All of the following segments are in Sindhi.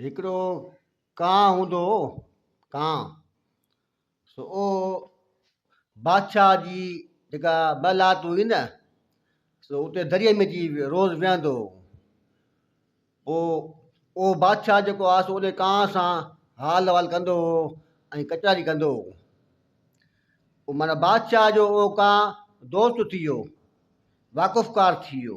هڪڙو ڪانء هوندو هو، ڪانء. سو او بادشاهه جي جيڪا ٻه لات هئي نه، سو اتي دريء ۾ اچي روز ويهندو هو. پوء او بادشاهه جيڪو آ سو انهي ڪانء سان حال احوال ڪندو هو ۽ ڪچهري ڪندو هو. او معنيٰ بادشاهه جو او ڪانء دوست ٿي ويو، واقفڪار ٿي ويو.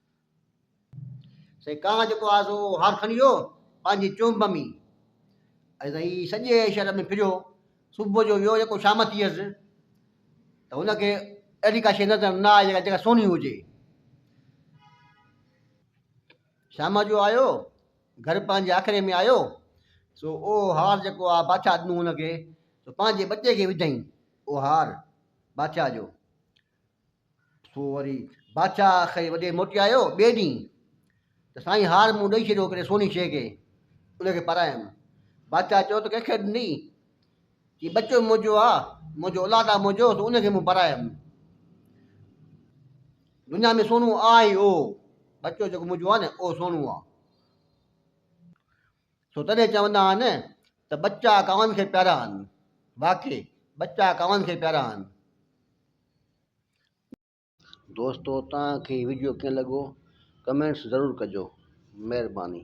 سائين ڪا جيڪو آزو هار کڻي ويو پنهنجي چونب ۾ ۽ سائين سڄي شهر ۾ ڦريو صبح جو ويو جيڪو شام ٿي هيس ته هن کي اهڙي ڪا شيء نظر نه آئي جيڪا جيڪا سوني هجي شام جو آيو گھر پنهنجي آکري ۾ آيو سو او هار جيڪو آ بادشاهه ڏنو هن کي سو پنهنجي ٻچي کي وڌائين او هار بادشاهه جو سو وري بادشاهه کي وڏي موٽي آيو ٻئي ڏينهن ته سائين هار مون ڏئي ڇڏيو هڪڙي سوني شيء کي ان کي پارايم بادشاهه چيو ته ڪنهنکي ڏني چي ٻچو منهنجو آ منهنجو اولاد آ منهنجو سو ان کي مون پارايم دنيا ۾ سونو آ ئي او ٻچو جيڪو منهنجو آ نه او سونو آ سو تڏهن چوندا آهن ته ٻچا ڪاون کي پيارا آهن واقعي ٻچا ڪاون کي پيارا آهن دوستو توهان کي هي وڊيو ڪيئن لڳو ڪمينٽس ضرور ڪجو مهرباني.